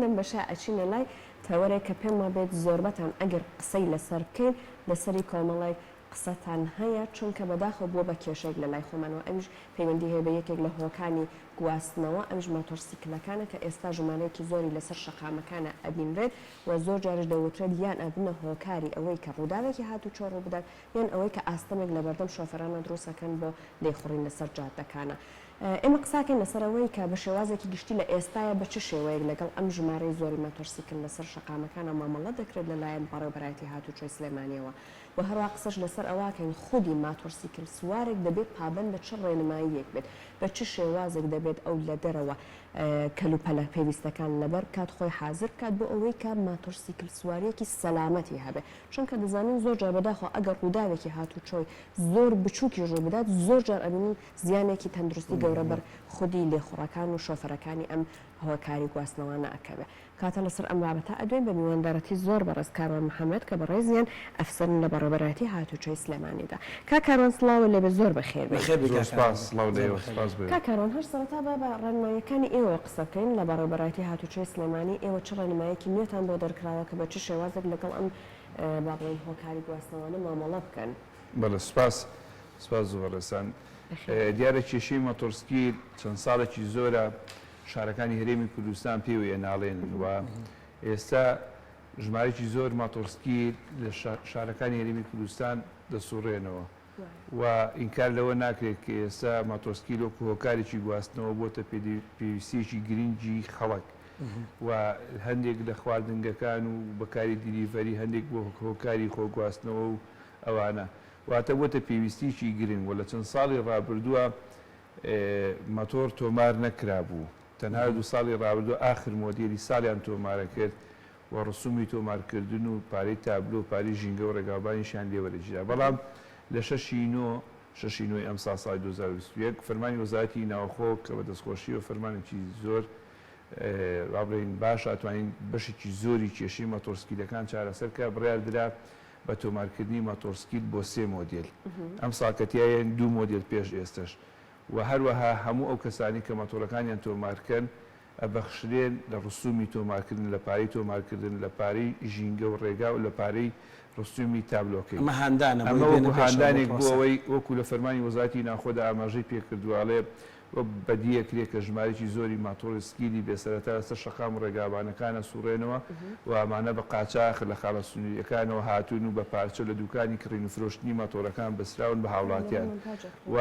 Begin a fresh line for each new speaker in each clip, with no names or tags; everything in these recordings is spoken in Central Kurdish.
لەم بەشە ئەچینە لای تەوەرێک کە پێم وابێت زۆربەتان ئەگەر قسەی لەسەر بکەین لەسەری کۆمەڵێک قسەتان هەیە چونکە بەداخەوە بووە بە کێشەیەک لە لای خۆمان و ئەویش پەیوەندی هەیە بە یەکێک لە هۆکانی گواستنەوە ئەویش ماتۆڕسیکلەکانە کە ئێستا ژمارەیەکی زۆری لەسەر شەقامەکانە ئەبینرێت و زۆر جاریش دەوترێت یان ئەبنە هۆکاری ئەوەی کە ڕووداوێکی هاتوچۆ ڕووبدات یان ئەوەی کە ئاستەمێک لەبەردەم شۆفێرانە دروست ئەکەن بۆ لێخوڕین لەسەر جادەکانە ئێمە قساکەین لەسەر ئەوەی کە بە شێوازێکی گشتی لە ئێستایا بە چ شێوەیەک لەگەڵ ئەم ژمارەی زۆری ماتۆرسیکل لەسەر شەقامەکانا مامەڵە دەکرێت لە لایەن بەڕێوبەرایەتی هاتوچۆی سلێمانیەوە و هەروا قسەش لەسەر ئەوەکەین خودی ماتۆرسیکل سوارێک دەبێت پابەند بە چ ڕێنماییەک بێت بە چ شێوازێک دەبێت ئەو لە دەرەوە کەلوپەلە پێویستەکان لەبەر بکات خۆی حازر بکات بۆ ئەوەی کە ماتۆرسیکل سواریەکی سەلامەتی هەبێت چونکە دەزانین زۆر جار بەداخەوە ئەگەر ڕووداوێکی هاتوچۆی زۆر بچوکیش ڕووبدات زۆر جار ئەبینین زیانێکی تەندروستی گەورە بەر خودی لێخوڕەکان و شۆفەرەکانی ئەم هۆکاری گواستنەوانە ئەکەوێ. کاتە لەسەر ئەم بابەتە ئەدوێین بە میواندارەتی زۆر بەڕێز کاروان محەمەد کە بەڕێزیان ئەفسەرن لە بەڕێوەبەرایەتی هاتوچۆی سلێمانیدا. کاک کاروان سڵاوە لێبێ زۆر بەخێر بێی. بەخێر بێی کاک کاروان. زۆر سپاس سڵاو لە ئێوە سپاس بۆ ئێوە. کاک کاروان هەر سەرەتا با بە ڕێنماییەکانی ئێوەوە قسە بکەین لە بەڕێوەبەرایەتی هاتوچۆی سلێمانی ئێوە چ ڕێنمایەکی نوێتان بۆ دەرکراوە کە بە چ شێوازێک لەگەڵ ئەم با بڵێین هۆکاری گواستنەوانە مامەڵە بکەن؟ بەڵێ سوپاس
سوپاس زۆر بەڕێزتان. دیارە کێشەی مەتۆڕسکی چەند ساڵێکی زۆرە شارەکانی هەرێمی کوردستان پێوەی ئەناڵێنن و ئێستا ژمارەیەکی زۆر ماتۆڕسکی لە شارەکانی هەرێمی کوردستان دەسوڕێنەوە و ئینکار لەوە ناکرێت کە ئێستا ماتۆسکی لۆک هۆکارێکی گواستنەوە بۆتە پێویستیەکی گرنگی خەڵک و هەندێک لە خواردنگەکان و بەکاری دیلیڤەری هەندێک بۆ هۆکاری خۆگواستنەوە و ئەوانە واتە بۆتە پێویستیەکی گرنگ وە لە چەند ساڵی ڕابردووە مەتۆڕ تۆمار نەکرابوو تەنها دوو ساڵی ڕابردووە ئاخر مۆدێلی ساڵیان تۆمارە کرد وە ڕسومی تۆمار کردن و پارەی تابلۆ و پارەی ژینگە و ڕێگاوبانیشیان لێ وەرگیرا بەڵام لە شەش ی نۆ شەش ی نۆ ی ئەمساڵ ساڵی دوو هەزار و بیست و یەک فەرمانی وەزارەتی ناوخۆ کە بە دەستخۆشی وە فەرمانێکی زۆر وابڵێین باش توانین بەشێکی زۆری کێشەی مەتۆڕسکیلەکان چارەسەر کرا بڕیار درا بە تۆمارکردنی ماتۆڕسکیل بۆ سێ مۆدێل ئەمساڵ کە تیایەن دوو مۆدێل پێش ئێستەش و هەروەها هەموو ئەو کەسانەی کە ماتۆڕەکانیان تۆمارکەن ئەبەخشرێن لە ڕسومی تۆمارکردن لە پارەی تۆمارکردن لە پارەی ژینگە و ڕێگا و لە پارەی ڕسومی تابلۆکەی ئەمە هاندانە بۆی بێنە پێشەوە بۆ پرۆسە. ئەمە وەکو هاندانێک بۆ ئەوەی وەکو لە فەرمانی وەزارەتی ناوخۆدا ئاماژەی پێکردوە ئەڵێ وەک بەدیهێ کرێ کە ژمارەیەکی زۆری ماتۆڕسکیلی بێ سەرەتا لەسەر شەقام و ڕێگابانەکان ئەسووڕێنەوە و ئەمانە بە قاچاخ لە خاڵە سنوورییەکانەوە هاتوون و بە پارچە لە دووکانی کڕین و فرۆشتنی ماتۆڕەکان بەستراون بە هاوڵاتیان و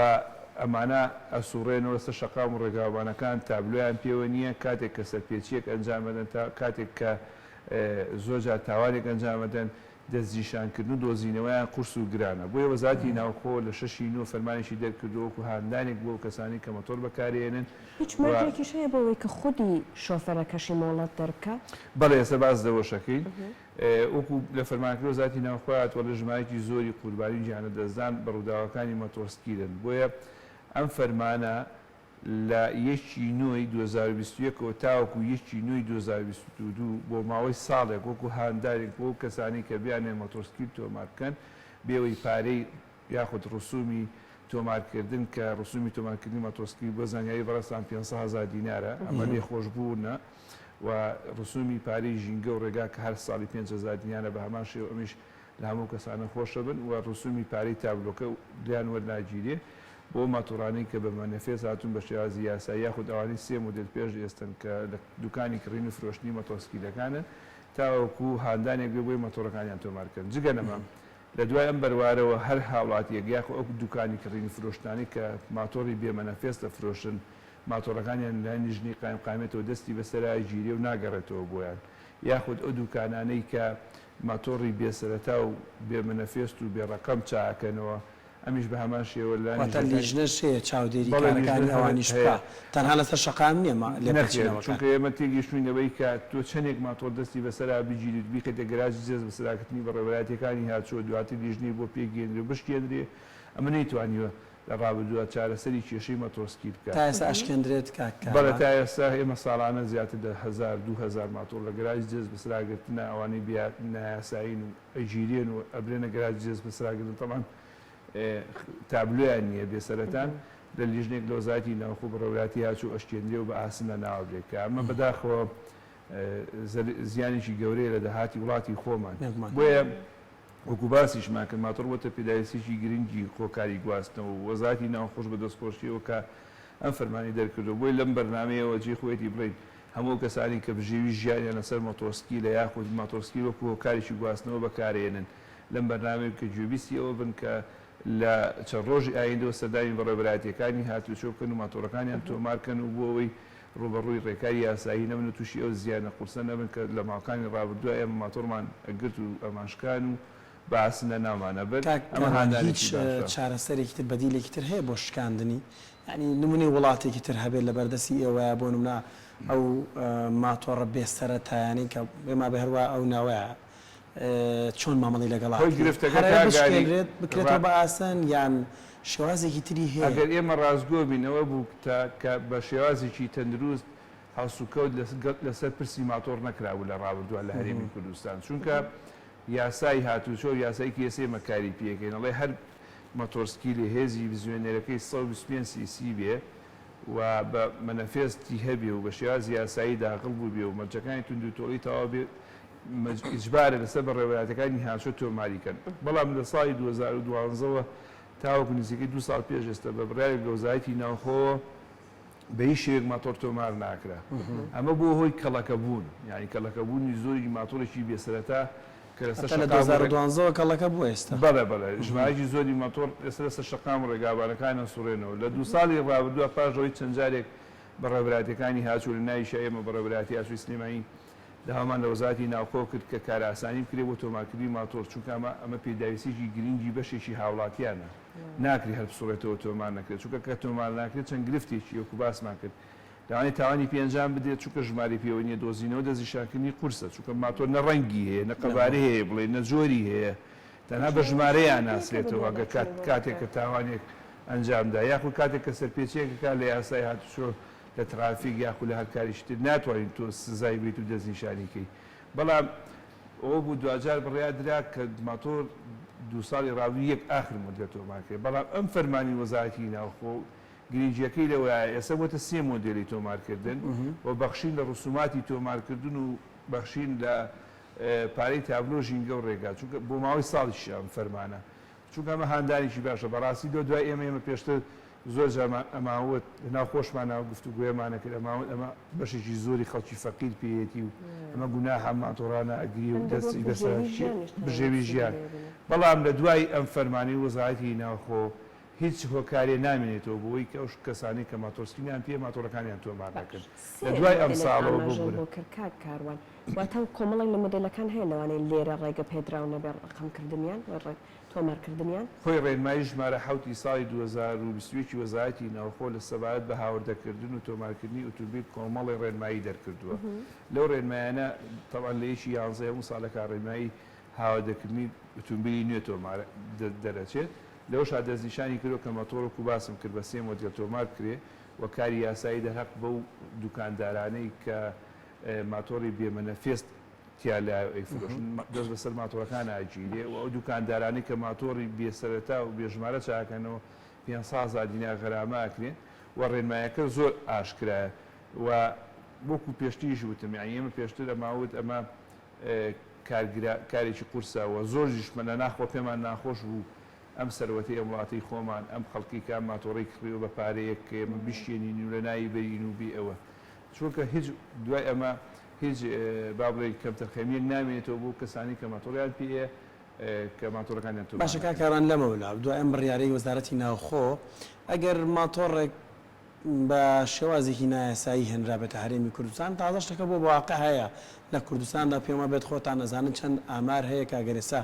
ئەمانە ئەسووڕێنەوە لەسەر شەقام و ڕێگابانەکان تابلۆیان پێوە نییە کاتێک کە سەرپێچییەک ئەنجام ئەدەن تا کاتێک کە زۆر جار تاوانێک ئەنجام ئەدەن دەستنیشانکردن و دۆزینەوەیان قورس و گرانە، بۆیە وەزارەتی ناوخۆ لە شەشی نۆ فەرمانێکی دەرکردووە وەکو هاندانێک بۆ ئەو کەسانەی کە مەتۆر بەکارێنن هیچ و. مەرجێکیش
هەیە بۆ ئەوەی کە خودی شۆفێرەکەشی مۆڵەت دەربکا؟ بەڵێ ئێستا باس
لەوەشەکەین. وەکو لە فەرمانەکەی وەزارەتی ناوخۆ هاتووە لە ژمارەیەکی زۆری قوربانی و گیانلەدەستدان بە ڕووداوەکانی مەتۆڕسکیلن، بۆیە ئەم فەرمانە لە یەکی نۆی دوو هەزار و بیست و یەک ەوە تاوەکو یەکی نۆی دوو هەزار و بیست و دوو بۆ ماوەی ساڵێک وەکو هاندانێک بۆ ئەو کەسانەی کە بیانوێت مۆتۆرسکیل تۆمار بکەن بێوەی پارەی یاخود ڕسومی تۆمارکردن کە ڕسومی تۆمارکردنی مۆتۆرسکیل بۆ زانیاری بەڕێزتان پێنج سەد هەزار دینارە ئەمە لێخۆشبوونە و ڕسومی پارەی ژینگە و ڕێگا کە هەر ساڵی پێنج هەزار دینارە بە هەمان شێوە ئەمیش لە هەموو کەسانە خۆشەبن و ڕسوومی پارەی تابلۆکە لێیان وەرناگیرێ بۆ ماتۆڕانەی کە بە مەنەفێس هاتوون بە شێوازی یاسایی یاخود ئەوانەی سێ مودێل پێش ئێستەن کە لە دوکانی کڕین و فرۆشتنی مەتۆسکیلەکانن تاوەکو هاندانێک بێ بۆی مەتۆڕەکانیان تۆمار کەن جگە لەمە لە دوای ئەم بەروارەوە هەر هاوڵاتییەک یاخود ئەو دوکانی کڕین و فرۆشتنانەی کە ماتۆڕی بێ مەنەفێس دەفرۆشن ماتۆڕەکانیان لە نژنی قایمقامیەتەوە دەستی بەسەرا گیرێ و ناگەڕێتەوە بۆیان یاخود ئەو دوکانانەی کە ماتۆڕی بێ سەرەتا و بێ مەنەفێست و بێ ڕەقەم چاکەنەوە، ئەمیش بە هەمان شێوە لە واتە لیژنەکانی. لیژنەش هەیە
چاودێری بەڵێ لیژنە کارەکانی هەر ئەوانیش هەیە. بکا؟ تەنها لەسەر شەقام نیە ما نەخێر لێپێچینەوەکان. چونکە ئێمە
تێگەیشتووین لەوەی کە تۆ چەندێک ماتۆڕ دەستی بەسەرا بگیریت و بیخەیتە گەراجی جێز بەسەراگرتنی بەڕێوەبەرایەتیەکانی هاتووە دواتر لیژنەی بۆ پێگەیەندرێ و بشکێندرێ ئەمە نەیتوانیوە لە ڕابردوودا چارەسەری کێشەی مەتۆسکی بکات. تا ئێستا
ئەشکێندرێت کاک کاوان؟ بەڵێ
تا ئێستا ئێمە ساڵانە زیاتر لە هەزار دوو هەزار ماتۆڕ لە گەراجی جێز بەس راگرتنە ئەوانەی بێ نایاسایین و ئەگیرێن و ئەبرێنە گەراجی جێز بەس راگرتن تەبعەن تابلۆیان نییە بێ سەرەتان لە لیژنەیەک لە وەزارەتی ناوخۆ بە رەوراتی هاتچوو ئەشکێندرێ و بە ئاسن لە ناو ئەبرێ کە ئەمە بەداخەوە زیانێکی گەورەیە لە داهاتی وڵاتی خۆمان بۆیە وەکو باسیشمان کرد ماتۆڕ بۆتە پێداویستیەکی گرنگی هۆکاری گواستنەوە و وەزارەتی ناوخۆش بە دەستخۆشیەوە کە ئەم فەرمانی دەرکردوە بۆیە لەم بەرنامەیەوە جێی خۆیەتی بڵێین هەموو ئەو کەسانەی کە بژێوی ژیانیان لەسەر مۆتۆرسکیلە یاخود ماتۆرسکیل وەکو هۆکارێکی گواستنەوە بەکارێنن لەم بەرنامەیە بکە گوێبیستی ئەوە بن کە لە چەند ڕۆژی ئایندەوە سەردانی بەڕێوەبەرایەتیەکانی هاتوچۆ بکەن و ماتۆڕەکانیان تۆمار کەن و بۆ ئەوەی ڕووبەڕووی ڕێکاری یاسایی نەبن و تووشی ئەو زیانە قورسە نەبن کە لە ماوەکانی ڕابردووە ئێمە ماتۆڕمان ئەگرت و ئەمانشکان و بە ئاسن لە ناومان ئەبرد، کاک ئەمە کامال هاندانێکی هیچ باشە.
چارەسەرێکی تر بەدیلێکی تر هەیە بۆ شکاندنی؟ یانی نمونەی وڵاتێکی تر هەبێت لەبەر دەستی ئێوەیە بۆ نمونە ئەو ماتۆڕە بێ سەرەتایانەی کە بێ مابێ هەروا ئەو ناوەیە. چۆن مامەڵەی لەگەڵ ئەکرێت؟ هۆی گرفتەکە کاک ئاری؟ هەرە بشکێنرێت بکرێتەوە بە ئاسن یان شێوازێکی تری هەیە؟ ئەگەر ئێمە ڕاستگۆ
بین ئەوە بوو کە کە بە شێوازێکی تەندروست هەڵسوکەوت لەسەر پرسی ماتۆڕ نەکرابوو لە ڕابردووە لە هەرێمی کوردستان چونکە یاسای هاتوچۆ یاسای تی ئێس ئێمە کاری پێ ئەکەین ئەڵێ هەر مەتۆرسکیلێ هێزی بزوێنەرەکەی سەد و بیست و پێنج سی سی بێ و بە مەنەفێس تی هەبێ و بە شێوازی یاسایی داخڵ بووبێ و مەرجەکانی توندوتۆڵی تەواو بێ ئیجبارە لەسەر بەڕێوەبەرایەتیەکانی هاشە تۆماری کەن، بەڵام لە ساڵی دوو هەزار و دوازدە وە تاوەکو نزیکەی دوو ساڵ پێش ئێستا بە بڕیارێک لە وەزارەتی ناوخۆوە بە هیچ شێوەیەک ماتۆڕ تۆمار ناکرا، ئەمە بووە هۆی کەڵەکەبوون، یانی کەڵەکەبوونی زۆری ماتۆڕێکی بێ سەرەتا کە لەسەر شەقام و ڕێگا. هەتا لە دوو هەزار و
دوازدە وە کەڵەکە بووە ئێستا. بەڵێ بەڵێ، ژمارەیەکی
زۆری ماتۆڕ ئێستا لەسەر شەقام و ڕێگابانەکان ئەسوڕێنەوە، لە دوو ساڵی ڕابردوودا پاش ئەوەی چەند جارێک بەڕێوەبەرایەتیەکانی هاچ و لە ناویشا ئێمە بەڕێوەبەرایەتی ئاسووری سلێمانی، داوامان لە وەزارەتی ناوخۆ کرد کە کارئاسانی بکرێت بۆ تۆمارکردنی ماتۆڕ، چونکە ئەمە ئەمە پێداویستییەکی گرنگی بەشێکی هاوڵاتییانە، ناکرێت هەر بسڕێتەوە تۆمار نەکرێت، چونکە کە تۆمار ناکرێت چەند گرفتێکی وەکو باسمان کرد لەوانەیە تاوانی پێ ئەنجام بدرێت، چونکە ژمارەی پێوە نییە، دۆزینەوە دەستنیشانکردنی قورسە، چونکە ماتۆر نە ڕەنگی هەیە، نە قەبارەی هەیە بڵێین، نە جۆری هەیە، تەنها بە ژمارەی ئاناسرێتەوە، گەر کاتێک کە تاوانێک ئەنجامدا یاخود کاتێک کە سەرپێچییەک ئەکات لە یاسای هاتوچۆ، لە تڕافیک یاخو لە هەر کاریکی تر ناتوانیت تۆ سزای بەیت و دەستنیشانی کەیت بەڵام ئەوە بوو دواجار بڕیار درا کە ماتۆر دوو ساڵی ڕابردوو یەک ئاخر مۆدێل تۆمار کرێت بەڵام ئەم فەرمانی وەزارەتی ناوخۆ گرینگیەکەی لەوەیە ئێستا بۆتە سێ مۆدێلی تۆمار کردن و بەخشین لە ڕسوماتی تۆمار کردن و بەخشین لە پارەی تابلۆ ژینگە و ڕێگا چونکە بۆ ماوەی ساڵیشە ئەم فەرمانە چونکە ئەمە هاندانێکی باشە بەڕاستی لۆ دوای ئێمە ئێمە پێشتر زۆر جارمان ئەماوت لەناو خۆشمانەوە گفتوگۆیەمان ئەکرد ئەماوت ئەمە بەشێکی زۆری خەڵکی فەقیر پێیەتی و ئەمە گوناحە ماتۆڕانە ئەگری و دەستی بەسەر بژێوی ژیان بەڵام لە دوای ئەم فەرمانی وەزارەتی ناوخۆ هیچ هۆکارێ نامێنێتەوە بۆی کە ئەو کەسانی کە ماتۆرسکینیان پێ ماتۆڕەکانیان تۆمار دەکرد لە دوای ئەم ساڵەوە بۆ بۆ کردکار
کاروان واتە کۆمەڵێک لە مۆدێلەکان هەیە لەوانەیە لێرە ڕێگە پێدراو نەبێ ڕەقەمکردنیان و تۆمارکردنیان. هۆی ڕێنمایی
ژمارە حەوت ی ساڵی دوو هەزار و بیست و یەک ی وەزارەتی ناوخۆ لە سەبارەت بە هاوردەکردن و تۆمارکردنی ئوتومبیل کۆمەڵی ڕێنمایی دەرکردووە لەو ڕێنمایانە تەبعەن لە یەکی یانزە ی هەموو ساڵێکا ڕێنمایی هاوردەکردنی ئوتومبیلی نوێ تۆمار دەرئەچێت لەوەشا دەستنیشانی کردووە کە مەتۆڕ وەکو باسم کرد بە سێ مۆدێل تۆمار بکرێ و کاری یاسایی دەرهەق بەو دوکاندارانەی کە ماتۆڕی بێ مەنەفێست تیا لایەو ئەیفرۆشن دەست بەسەر ماتۆڕەکان ئاگیرێ و ئەو دوکاندارانەی کە ماتۆڕی بێ سەرەتا و بێ ژمارە چاکەنەوە پێنج سەد هەزار دینار غەرامە ئەکرێن و ڕێنمایەکە زۆر ئاشکرایە و وەکو پێشتریش وتم یانی ئێمە پێشتر ئەما وت ئەمە کارگرا کارێکی قورسە و زۆر ژیشمەلە ناخوە پێمان ناخۆش بوو ئەم سەروەتەی ئەم وڵاتەی خۆمان ئەم خەڵکەی کە ئەم ماتۆڕەی کڕیوە بە پارەیەک کە ئێمە بیشکێنین و لە ناوی بەرین و بێ ئەوە چونکە هیچ دوای ئەمە هیچ با بڵێین کەمتەرخەمییەک نامێنێتەوە بۆ کەسانی کە ماتۆڕیان پێ یە کە ماتۆڕەکانیان تۆمار باشە کاک دەکەن. ئاران لەمەولا
دوای ئەم بڕیارەی وەزارەتی ناوخۆ ئەگەر ماتۆڕێک بە شێوازێکی نایاسایی هێنرابێتە هەرێمی کوردستان تازە شتەکە بۆ واقع هەیە لە کوردستاندا پێم وابێت خۆتان ئەزانن چەند ئامار هەیە کە ئەگەر ئێستا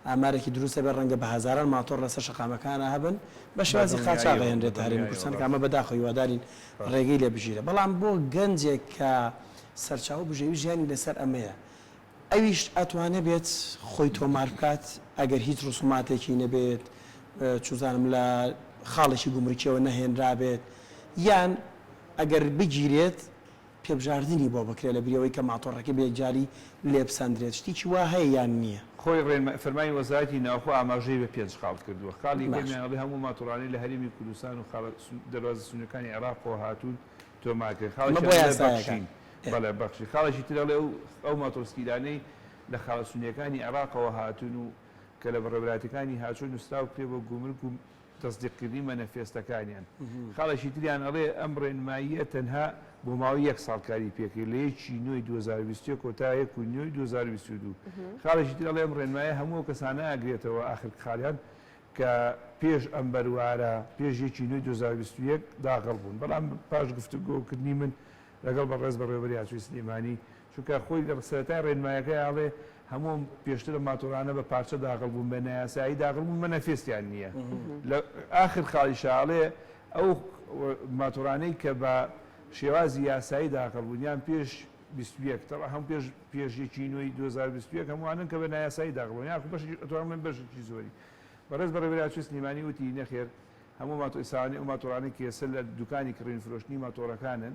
ئامارێکی دروست هەبێت ڕەنگە بە هەزاران ماتۆڕ لەسەر شەقامەکانە هەبن بە بە شێوازی قاچاغ دڵنیاییەوە بە ئەهێنرێتە هەرێمی دڵنیاییەوە کوردستان کە ئەمە ڕاستە. بەداخەوە هیوادارین ڕێگەی لێ بگیرە بەڵام بۆ گەنجێک کە سەرچاوەو بژێوی ژیانی لەسەر ئەمەیە ئەویش ئەتوانێ بێت خۆی تۆمار بکات ئەگەر هیچ ڕسوماتێکی نەبێت چوزانم لە خاڵێکی گومرکیەوە نەهێنرابێت یان ئەگەر بگیرێت پێبژاردنی بۆ بکرێت لە بریەوەی کە ماتۆڕەکە بە یەکجاری لێبسەندرێت، شتیکی وا هەیە یان نییە؟ خۆی ڕێنمای فەرمانی
وەزارەتی ناوخۆ ئاماژەی بە پێنج خاڵ کردووە، خاڵی یەکەم باش. یانەڵی هەموو ماتۆڕانەی لە هەرێمی کوردستان و خاڵە دەروازە سنووریەکانی عێراقەوە هاتوون تۆمارکرێن، ئەمە خاڵێکیان بۆ ئەڵێ یاسایەکان. بەخشین، بەڵێ بەخشین، خاڵێکی تر ئەڵێ ئەو ئەو ماتۆڕسکیلانەی لە خاڵە سنووریەکانی عێراقەوە هاتوون و کە لە بەڕێوەبەرایەتیەکانی هاوچۆ نووسراو کرێ بۆ گومرک و تەسدیقکردنی مەنەفێستەکانیان. خاڵێکی تریان ئەڵێ، ئەم ڕێنماییە تەنها بۆ ماوەی یەک ساڵ کاری پێکرد، لە یەک ی نۆی دوو هەزار و بیست و یەک و تا یەک ی نۆی دوو هەزار و بیست و دوو. خاڵێکی تر ئەڵێ، ئەم ڕێنمایە هەموو ئەو کەسانە ئەگرێتەوە، ئاخر خاڵیان، کە پێش ئەم بەروارە، پێش یەک ی نۆی دوو هەزار و بیست و یەک، داغڵ بوون. بەڵام پاش گفتوگۆکردنی من لەگەڵ بەڕێز بەڕێوەبەری ئاسۆی سلێمانی، چونکە خۆی لە سەرەتای ڕێنمایەکەی ئەڵێ هەموو ئەم پێشترە ماتۆڕانە بە پارچە داغڵ بوون بە نایاسایی داغڵ بوون مەنەفێستیان نییە لە ئاخر خاڵیشا ئەڵێ ئەو ماتۆڕانەی کە بە شێوازی یاسایی داغڵ بوون یان پێش بیست و یەک تەبعەن هەموو پێش پێش یەکی نۆی دوو هەزار و بیست و یەک هەمووانن کە بە نایاسایی داغڵ بوون یاخو بەشێکی ئەتوانم بڵێم بەشێکی زۆری بەڕێز بەڕێوەبەری ئاوچەی سلێمانی وتی نەخێر هەموو ماتۆ ئیساوانی ئەو ماتۆڕانەی کە ئێستا لە دوکانی کڕین فرۆشتنی ماتۆڕەکانن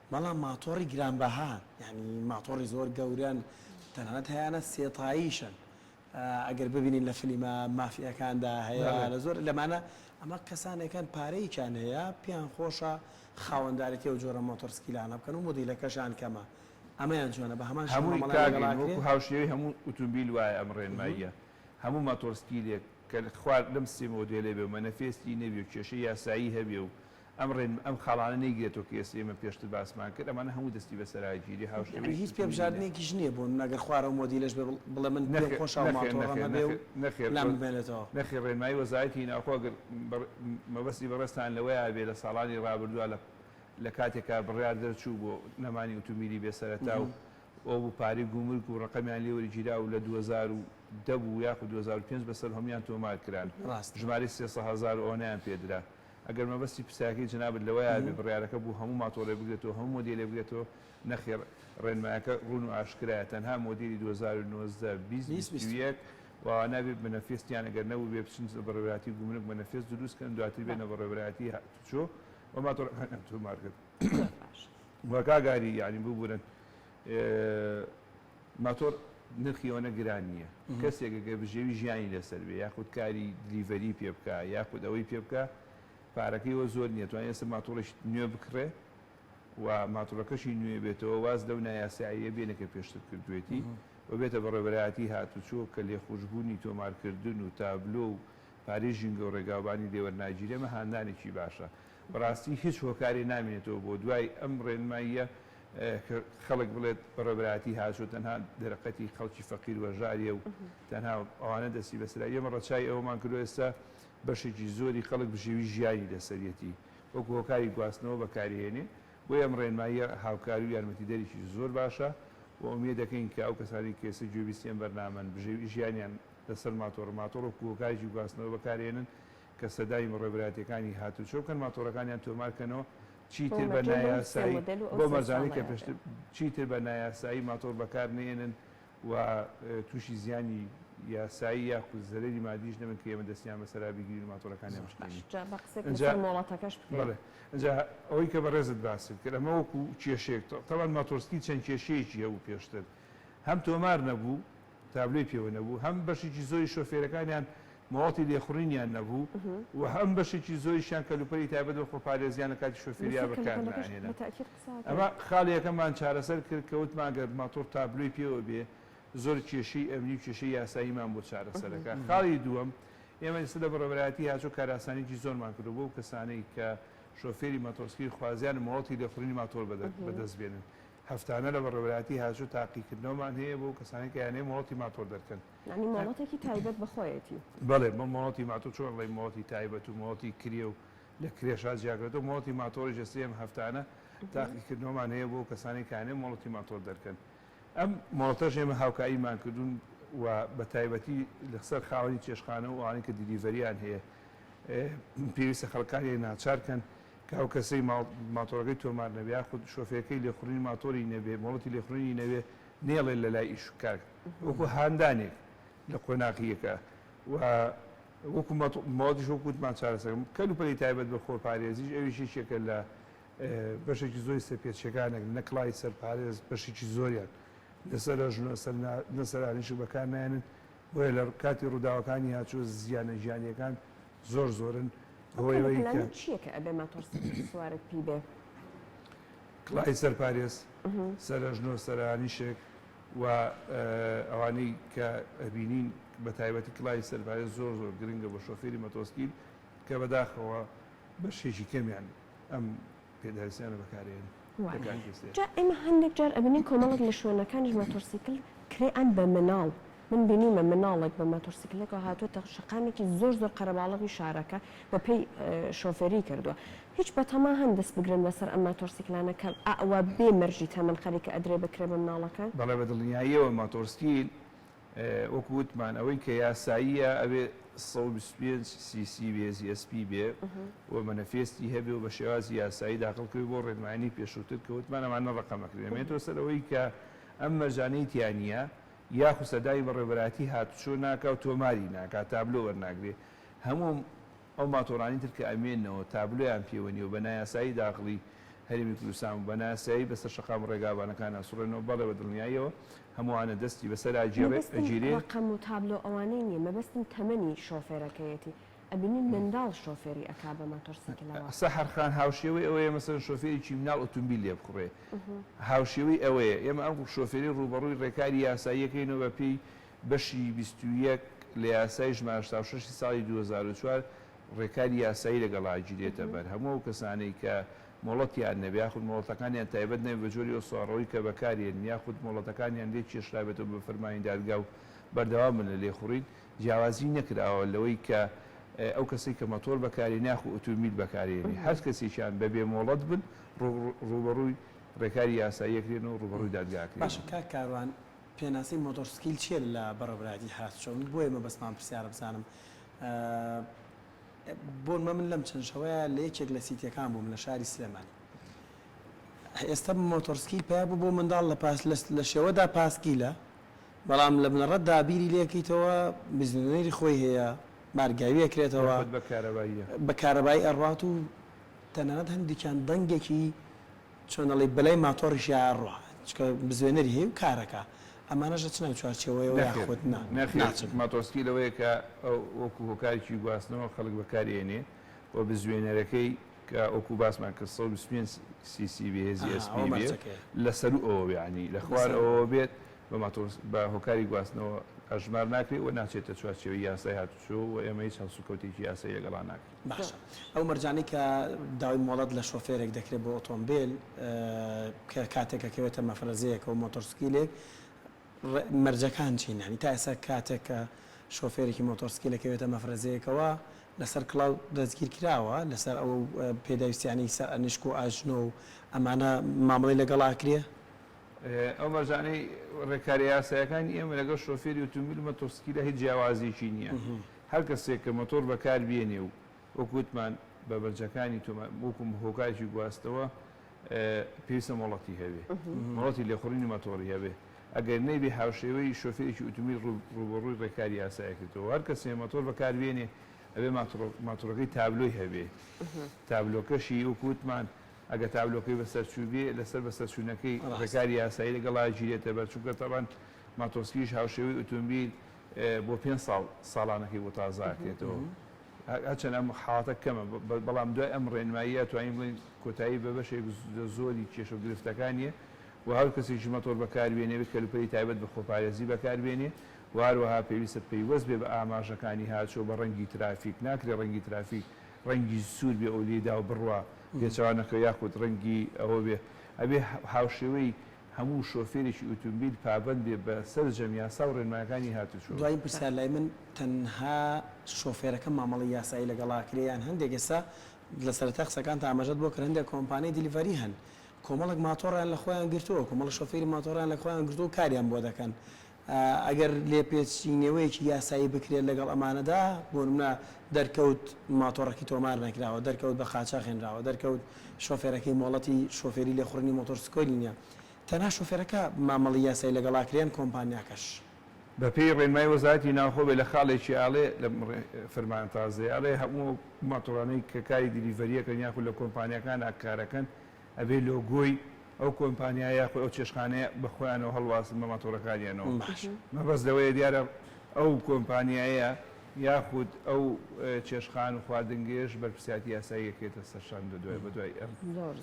بەڵام ماتۆڕی گرانبەهان یانی ماتۆڕی زۆر گەورەن تەنانەت هەیانە سێتاییشن ئەگەر ببینین لە فلیمە مافیەکاندا هەیە لە زۆر لەمانە ئەمە کەسانێکان پارەیەکیان هەیە پێیان خۆشە خاوەندارێتی و جۆرە مۆتۆرسکیلانە بکەن و مدیلەکەشان کەمە ئەمەیان جوانە بە هەمان هەمووی کاگەڵاکو
هاوشێوی هەموو ئوتومبیل وایە ئەم ڕێنماییە هەموو ماتۆرسکیلێک کە خوارد لەم سێ مۆدێلێ بێ مەنەفێستی نەبێ و کێشە یاسایی هەبێ و ئەم ڕێ ئەم خاڵانە نەیگرێتەوە کە ئێستا ئێمە پێشتر باسمان کرد، ئەمانە هەموو دەستی بە سەراگیری هاوشێوەی یانی هیچ پێ سوتەمەنی نە. بژاردنێکیش
نییە بۆ نمونە گەر خوارەو مۆدیلەش بێ بڵێ من پێم نەخێر خۆشە و نەخێر ماتۆڕم نەخێر هەبێ و نەخێر نەخێر لام ڕێ بمێنێتەوە. نەخێر ڕێنمایی وەزارەتی
ناوخۆ ئەگەر بە مەبەستی بەڕێزتان لەوەیە بێ لە ساڵانی ڕابردووە لە لە کاتێکا بڕیار دەرچوو بۆ نەمانی ئوتومبیلی بێ سەرەتا و ئەوە بوو پارەی گومرگ و ڕەقەمیان لێ وەرگیرا و لە دوو هەزار و دە بوو یاخود دوو هەزار و پێنج بەسەر هەموویان تۆمار کران ڕاستە. ژمارەی سێ سەد هەزار و ئەوەنەیان پێ درا. ئەگەر مەبەستی پرسیارەکەی جەنابت لەوەیە بێ بڕیارەکە بۆ هەموو ماتۆڕێ بگرێتەوە هەموو مۆدێلێ بگرێتەوە، نەخێڕ ڕێنمایەکە ڕوون و ئاشکرایە تەنها مۆدێلی دوو هەزار و نۆزدە، بیست، بیست و یەک و ئەوانە ئەبێ مەنەفێستیان ئەگەر نەبووبێ بچن بەڕێوەبەرایەتی گومرگ مەنەفێست دروست کەن دواتر بێنە بەڕێوەبەرایەتی هاتوچۆ و ماتۆڕەکانیان تۆمارکەن و کاگاری یانی ببورن. ماتۆڕ نرخی ئەوەنە گران نییە، کەسێک ئەگەر بژێوی ژیانی لەسەر بێ یاخود کاری دلیڤەری پێ بکا یاخود ئەوەی پێ بکا پارەکەی ئەوە زۆر نییە توانێ ئێستا ماتۆڕێکی نوێ بکڕێ و ماتۆڕەکەشی نوێ بێتەوە واز لەو نایاساییە بێنێ کە پێشتر کردوێتی و بێتە بەڕێوەبەرایەتی هاتوچۆ کە لێخوشبوونی تۆمارکردن و تابلۆ و پارەی ژینگە و ڕێگاوبانی لێ وەرناگیرێ ئەمە هاندانێکی باشە بەڕاستی هیچ هۆکارێ نامێنێتەوە بۆ دوای ئەم ڕێنماییە خەڵک بڵێت بەڕێوەبەرایەتی هاتووە تەنها دەرەقەتی خەڵکی فەقیر وەژاریە و تەنها ئەوانە دەستی بەسەرا، ئێمە ڕەچای ئەوەمان کردوە ئێستا بەشێکی زۆری خەڵک بژێوی ژیانی لەسەریەتی وەکو هۆکاری گواستنەوە بەکاریهێنێ، بۆیە ئەم ڕێنماییە هاوکاری و یارمەتیدەرێکی زۆر باشە و ئومێد دەکەین کە ئەو کەسانەی کە ئێستا گوێبیستی ئەم بەرنامەن بژێوی ژیانیان لەسەر ماتۆڕ ماتۆڕ وەکو هۆکارێکی گواستنەوە بەکارهێنن، کە سەدای بەڕێوبەرایەتیەکانی هاتوچۆ بکەن ماتۆڕەکانیان تۆمار کەنەوە چیتر بە نایاسایی بەو مەزانەی کە پێشتر چیتر بە نایاسایی ماتۆڕ بەکار نێنن و تووشی زیانی یاسایی یاخود زەرەری مادیش نەبن کە ئێمە دەستیان بەسەرا بگیرین و ماتۆرەکانیان بشکێنین ئەجا ئەوەی کە بەڕێزت باست کرد ئەمە وەکو کێشێک تەوان ماتۆرسکی چەند کێشەیەکی هەبوو پێشتر هەم تۆمار نەبوو تابلۆی پێوە نەبوو، هەم بەشێکی زۆری شۆفێرەکانیان مۆڵەتی لێخوڕینیان نەبوو و هەم بەشێکی زۆریشیان کەلوپەلی تایبەت بە خۆپارێزییان لە کاتی شۆفێرییان بەکارناهێنا. ئەمە خاڵییەکەمان چارەسەر کرد کە وتمان ئەگەر ماتۆڕ تابلۆی پێوە بێ زۆر کێشەی ئەمنی و کێشەی یاساییمان بۆ چارەسەر ئەکا. خاڵی دووەم، ئێمە ئێستا لە بەڕێوەبەرایەتیی هاچۆ کارئاسانییەکی زۆرمان کردووە بۆ ئەو کەسانەی کە شۆفێری ماتۆڕسکیل خوازیارن مۆڵەتی لێخوڕینی ماتۆڕ بەدەست بێنن. هەفتانە لە بەڕێوەبەرایەتی هاتشو تاقیکردنەوەمان هەیە بۆ ئەو کەسانەی کە یانەیە مۆڵەتی ماتۆڕ دەرکەن. یانی مۆڵەتێکی تایبەت
بە خۆیەتی؟ بەڵێ بە مۆڵەتی
ماتۆڕ چۆن ئەڵێی مۆڵەتی تایبەت و مۆڵەتی کرێ و لە کرێشا جیاکرێتەوە مۆڵەتی ماتۆڕیش لە سێیەم هەفتانە تاقیکردنەوەمان هەیە بۆ ئەو کەسانەی کە یانەیە مۆڵەتی ماتۆڕ دەرکەن ئەم مۆڵەتەش ئێمە هاوکاریمان کردوون و بە تایبەتی لەسەر خاوەنی چێشتخانە و ئەوانەی کە دیلیڤەریان هەیە پێویستە خەڵکانیان ناچار کەن کە ئەو کەسەی ماتۆڕەکەی تۆمار نەبێ یاخود شۆفێرەکەی لێخوڕینی ماتۆری نەبێ مۆڵەتی لێخوڕینی نەبێ نێڵێ لە لای ئیش کار وەکو هاندانێک لە قۆناخی یەکە و وەکو مۆڵەتیش وەکو وتمان چارەسەرم کەل و پەلی تایبەت بە خۆپارێزیش ئەویش یەکێکە لە بەشێکی زۆری سەرپێچیەکانێک نەکڵای سەرپارێز بەشێکی زۆریان نەسەر ژنە نەسەرانیش بەکار نایەنن بۆیە لە کاتی ڕووداوەکانی هاتوچۆ زیانە گیانیەکان زۆر زۆرن بەهۆی ئەوەی کە. چیە
کە ئەبێ ماتۆڕ سپی سوارت پی بێ؟
کڵای سەر پارێز، سەر ئەژنۆ، سەرانیشێک و ئەوانەی کە ئەبینین بە تایبەتی کڵای سەر پارێز زۆر زۆر گرنگە بۆ شۆفێری مەتۆسکیل کە بەداخەوە بەشێکی کەمیان ئەم پێداویستیانە بەکارێنی لە کاتی
وستێ. جا ئێمە هەندێک جار ئەبینین کۆمەڵێک لە شوێنەکانیش ماتۆڕسیکل کرێ ئەن بە مناڵ من بینیومە مناڵێک بە ماتۆڕسیکلێکەوە هاتووەتە شەقامێکی زۆر زۆر قەرەباڵغی شارەکە بە پێی شۆفێری کردووە هیچ بە تەما هەن دەست بگرن بەسەر ئەم ماتۆڕسیکلانە کە ئەوە بێ مەرجی تەمەن خەریکە ئەدرێ بە کرێ بە مناڵەکان؟ بەڵێ بە دڵنیاییەوە
ماتۆڕسکیل وەکو وتمان ئەوەی کە یاساییە ئەوێ سەد و بیست و پێنج سی سی بێ زی ئێس پی بێ و مەنەفێستی هەبێ و بە شێوازی یاسایی داخڵ کەوی بۆ ڕێنمایانی پێشووتر کە وتمان ئەمانە ڕەقەم ئەکرێ ئەمێنێتەوە سەر ئەوەی کە ئەم مەرجانەی تیا نییە یاخود سەردانی بەڕێوەبەرایەتی هاتوچۆ ناکا و تۆماری ناکا تابلۆ وەرناگرێ هەموو ئەو ماتۆڕانەی تر کە ئەمێننەوە تابلۆیان پێوە نییە و بە نایاسایی داخڵی هەرێمی کوردستان بوون، بە نایاسایی بەسەر شەقام و ڕێگابانەکان ئەسوڕێنەوە، بەڵێ بە دڵنیاییەوە هەمووانە دەستی بەسەر مەبەستم ئەگیرێ. ڕەقەم و تابلۆ
ئەوانەی نییە، مەبەستم تەمەنی شۆفێرەکەیەتی، ئەبینین منداڵ شۆفێری ئەکا بە ماتۆڕسیکلەوە. سەحەر خان، هاوشێوەی
ئەوەیە مەسەلەن شۆفێرێکی مناڵ ئۆتۆمبیل لێ بکڕێ، هاوشێوەی ئەوەیە ئێمە ئەم شۆفێرەی ڕووبەڕووی ڕێکاری یاساییەکەین و بەپێی بەشی بیست و یەک لە یاسای ژمارە هەشتا و شەش ی ساڵی دوو هەزار و چوار ڕێکاری یاسایی لەگەڵا ئەگیرێتە بەر، هەموو ئەو کەسانەی کە مۆڵەتیان نەبێ یاخود مۆڵەتەکانیان تایبەت نەبێ بە جۆری ئەو سواڕۆی کە بەکارهێنن یاخود مۆڵەتەکانیان لێ کێشرابێتەوە بە فەرمانی دادگا و بەردەوام بن لە لێخوڕین، جیاوازی نەکراوە لەوەی کە ئەو کەسەی کە مەتۆر بەکارهێنێ یاخود ئوتومبیل بەکارهێنێ هەر کەسێکیان بە بێ مۆڵەت بن ڕووبەڕووی ڕێکاری یاسایی ئەکرێن و ڕووبەڕووی دادگا ئەکرێن. باشە کاک کاروان
پێناسەی مۆتۆر سکیل چیە لە بەڕێوبەرایەتی هاس چۆ من بۆیە مەبەستمان پرسیارە بزانم بۆ نمە من لەم چەند شەوەیە لە یەکێک لە سیتەکان بووم لە شاری سلێمانی ئێستا مۆتۆر سکیل پیا بوو بۆ منداڵ لە پاس لە شێوەدا پاسکیلە بەڵام لە بنەڕەت دا بیری لێکەیتەوە بزنێری خۆی هەیە بارگاوی ئەکرێتەوە بە کارەبایی ئەڕوات و تەنانەت هەندێکیان دەنگێکی چۆن ئەڵێی بەلای ماتۆڕیشی ئەڕوا چکە بزوێنەری هەیە و کارەکا ئەمانەش ئەچنە ئەو چوارچێوەیەوە یاخود نا ناچن؟ نەخێر
ماتۆڕسکیل ئەوەیە کە وەکو هۆکارێکی گواستنەوە خەڵک بەکاری ئەینێ و بزوێنەرەکەی کە وەکو باسمان کرد سەد و بیست و پێنج سی سی بێ هێزی ئەها ئەوە ئەسپی بێ مەرجەکەیە. لە سەروو ئەوە بێ یانی لە خوار لەسەر ئەوەوە ئەوە. بێت بە ماتۆڕس بە هۆکاری گواستنەوە ئەژمار ناکرێ و ناچێتە چوارچێوەی یاسای هاتووچۆ و ئێمە هیچ هەڵسوکەوتێکی یاسایی لەگەڵا ناکەین. باشە ئەو
مەرجانەی کە داوای مۆڵەت لە شۆفێرێک دەکرێت بۆ ئۆتۆمبێل کە کاتێک ئەکەوێتە مەفرەزەیەک و مۆتۆرسکیلێک مەرجەکان چین هەنی تا ئێستا کاتێک کە شۆفێرێکی مۆتۆرسکیلە کەوێتە مەفرەزەیەکەوە لەسەر کڵاو دەستگیر کراوە لەسەر ئەو پێداویستیانی سەر ئەنیشک و ئاژنۆ و ئەمانە مامەڵی لەگەڵ ئاکرێ ئەو مەرجانەی
ڕێکارە یاسایەکانی ئێمە لەگەڵ شۆفێری ئۆتۆمبیل مۆتۆرسکیلە هیچ جیاوازیەکی نییە هەر کەسێک کە مەتۆڕ بەکار بێنێ و وەکو وتمان بە بەرجەکانی تۆمار وەکو هۆکارێکی گواستنەوە پێویستە مۆڵەتی هەبێ مۆڵەتی لێخوڕینی مەتۆڕی هەبێ ئەگەر نەیبێ هاوشێوەی شۆفێرێکی ئوتومبیل ڕووبەڕووی ڕێکاری یاسایی کردەوە هەر کەسێ مەتۆڕ بەکار بێنێ ئەبێ ماتۆڕەکەی تابلۆی هەبێ تابلۆکەشی وەکو وتمان ئەگەر تابلۆکەی بەسەرچوو بێ لەسەر بەسەرچوونەکەی ڕێکاری یاسایی لەگەڵا گیرێتە بەر چونکە تەبەن ماتۆسکیش هاوشێوەی ئوتومبیل بۆ پێنج ساڵ ساڵانەکەی بۆ تازەئەکرێتەوە. هەرچەند ئەم حاڵەتە کەمە، بەڵام دوای ئەم ڕێنماییە توانین بڵێین کۆتایی بە بەشێک لە زۆری کێشە و گرفتەکانیە و هەر کەسێکی مەتۆر بەکاربێنێت کەلوپەلی تایبەت بە خۆپارێزی بەکاربێنێت و هەروەها پێویستە پەیوەست بێت بە ئاماژەکانی هاتوچۆ بە ڕەنگی ترافیک، ناکرێت ڕەنگی ترافیک ڕەنگی سوور بێت و لێیداو بڕوا پێچەوانەکەوە یاخود ڕەنگی ئەوە بێت ئەبێت هاوشێوەی. هەموو شۆفێرێکی ئوتومبیل پابەند بێ بە سەرجەم یاسا و رێنمایەکانی هاتوچۆ. دوایین پرسیار لای من
تەنها شۆفێرەکە مامەڵەی یاسایی لەگەڵ ئاکرێ یان هەندێک ئێستا لە سەرەتای قسەکانتا ئاماژەت بۆ کرد هەندێک کۆمپانیای دیلیڤەری هەن کۆمەڵێک ماتۆڕیان لە خۆیان گرتووە کۆمەڵە شۆفێری ماتۆڕیان لە خۆیان گرتووە و کاریان بۆ دەکەن ئەگەر لێپێچینەوەیەکی یاسایی بکرێت لەگەڵ ئەمانەدا، بۆنمونە دەرکەوت ماتۆڕەکەی تۆمار نەکراوە، دەرکەوت بە قاچاخ هێنراوە، دەرکەوت شۆفێرەکەی مۆڵەتی شۆفێری لێخوڕینی مۆتۆرسکۆلی نیە، تەنها شۆفێرەکە مامەڵەی یاسایی لەگەڵاکرێ یان کۆمپانیاکەش. بەپێی
ڕێنمایی وەزارەتی ناوخۆ بێ لە خاڵێکی ئاڵێ لەم فەرمانە تازەیە ئەڵێ هەموو ئەو ماتۆڕانەی کە کاری دیلیڤەریەکەن یاخود لە کۆمپانیاکان کارەکەن ئەبێ لۆگۆی ئەو کۆمپانیا یاخود ئەو چێشتخانەیە بە خۆیانەوە هەڵواسن بە ماتۆڕەکانیانەوە. مەبەست لەوەیە دیارە ئەو کۆمپانیایە یاخود ئەو چێشتخان و خواردنگەیەش بەرپرسیارەتی یاسایی ئەکرێتە سەرشان لەدوای بەدوای ئەم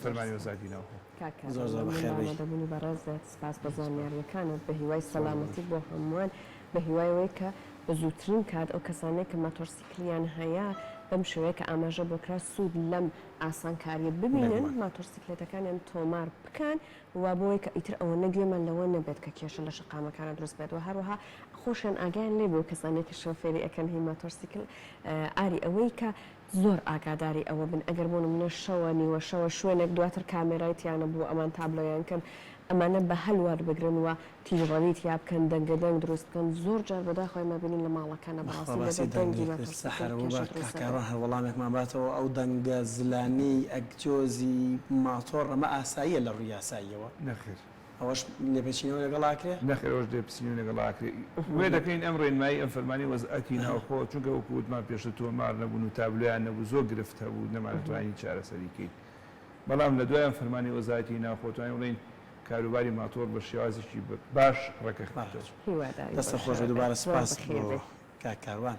فەرمانی وەزارەتی ناوخۆ. کاک کاروان مەمنون بە
ئامادەبونی بەڕێزت سپاس بۆ زانیاریەکانت بە هیوای سەلامەتی بۆ هەموان بە هیوای ئەوەی کە بە زوترین کات ئەو کەسانەی کە ماتۆڕسیکلیان هەیە بەم شێوەیە کە ئاماژە بۆ کرا سود لەم ئاسانکاریە ببینن ماتۆرسیکلێتەکانیان تۆمار بکەن وە بۆی کە ئیتر ئەوەنە گوێمان لەوە نەبێت کە کێشە لە شەقامەکانە دروست بێت وە هەروەها خۆشیان ئاگایان لێ بێ و کەسانێک کە شۆفێری ئەکەن هی ماتۆرسیکل ئاری ئەوەی کە زۆر ئاگاداری ئەوە بن ئەگەر بۆ نمونە شەوە نیوە شەوە شوێنێک دواتر کامێرای تیانە بوو ئەمان تابلۆیان کرد ئەمانە بە هەل وەربگرن وە تیژڕەوی تیا بکەن دەنگە دەنگ دروست بکەن زۆر جار بەداخەوە ئێمە بینین لە ماڵەکانە بەڕاستی لێ بە دەنگی مەترسیدار کێشە دروست دەکەن. کاکە
ڕەهە وەڵامێکمان باتەوە ئەو دەنگە زلانەی ئەگجۆزی ماتۆڕ ئەمە ئاساییە لە ڕووی یاساییەوە؟ نەخێر.
ئەوەش
لێپێچینەوە لەگەڵ ئاکرێ؟ نەخێر ئەوەش لێپسینەوەی
لەگەڵ ئاکرێ وێ دەکەین ئەم ڕێنمایی ئەم فەرمانی وەزعەکی ناوخۆ چونکە وەکو وتمان پێشتر تۆمار نەبوون و تابلۆیان نەبوو زۆر گرفت هەبوو نەمانەتوانی چارەسەری کەین بەڵام لە دوای ئەم فەرمانی وەزارەتی ناوخۆ توانین بڵێین کاروباری ماتۆڕ بە شێوازێکی باش
ڕێکەخنە
دەچن.
هیوادارین بەشەوە بێت. دەستت خۆش
بێت دووبارە
سپاس بۆ
کاک
کاروان.